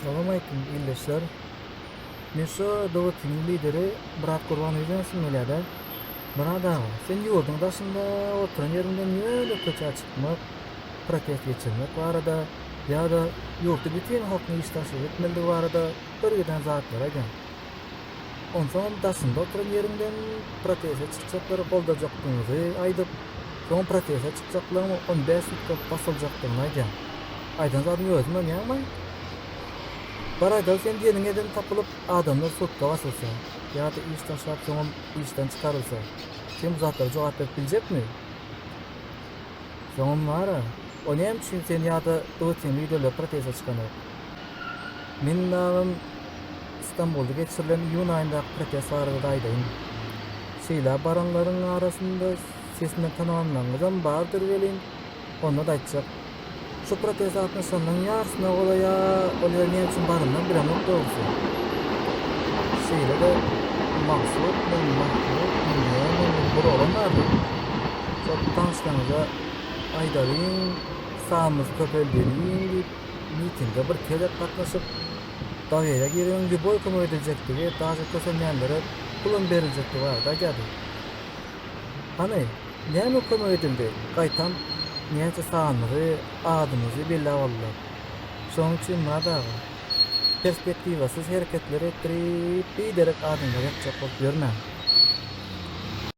Salam aleýkum ildeşler. Men şu Dawutiniň lideri Myrat Gurbanowy diýesim gelýärdi. Myrat aga, sen ýurduň daşynda oturan ýeriňden ýöne köçä çykmak, protest geçirmek barada ýa-da ýurtda bütin halkyň işdaşlyk etmelidigi barada bir giden zatlar aýdaň. Onsoňam daşynda oturan ýeriňden proteste çykjaklary goldajakdygyňyzy aýdyp, soň proteste çykjaklaryň on bäş tutlap basyljakdygyny aýdýaň. Aýdan zadyňa özüň ynanýaňmy? Bar aýdaly sen diýeniň eden tapylyp, adamlar sutka basylsa, ýa-da iş taşlap soňam işden çykarylsa, sen bu zatlara jogap berip biljekmi? Soňam bar-a, o näme üçin sen ýa-da BGT-niň liderleri proteste çykanok? Meniň namym Stambulda geçirilen iýun aýyndaky protest barada-da aýdaýyn. Şeýle baranlaryň arasynda sesinden tanalanlaryňyzam bardyr welin, onda-da aýtjak. Şu proteste gatnaşanlaryň ýarysyna golaýa ol ýere näme üçin baranymam bilemok dogrusy. Şeýle-de Maksut bilen Mahmut diýilýän meniň bir oglan bar. Şol tanyşlaryňyza aýdalyň, sanymyz köpeldelin diýip. Mitinge bir gezek gatnaşyp, Dawida giregiň lýuboý kömek ediljekdigi, daže kösenýänlere pulam beriljekdigi barada aýdýardy. Hany, näme kömek edildi? Gaýtam, näçe sanymyzy, adymyzy belläp aldylar. Şonuň üçin Myrat aga, perspektiwasyz hereketler etdirip, biderek adamlary ýakjak bolup ýörmäň.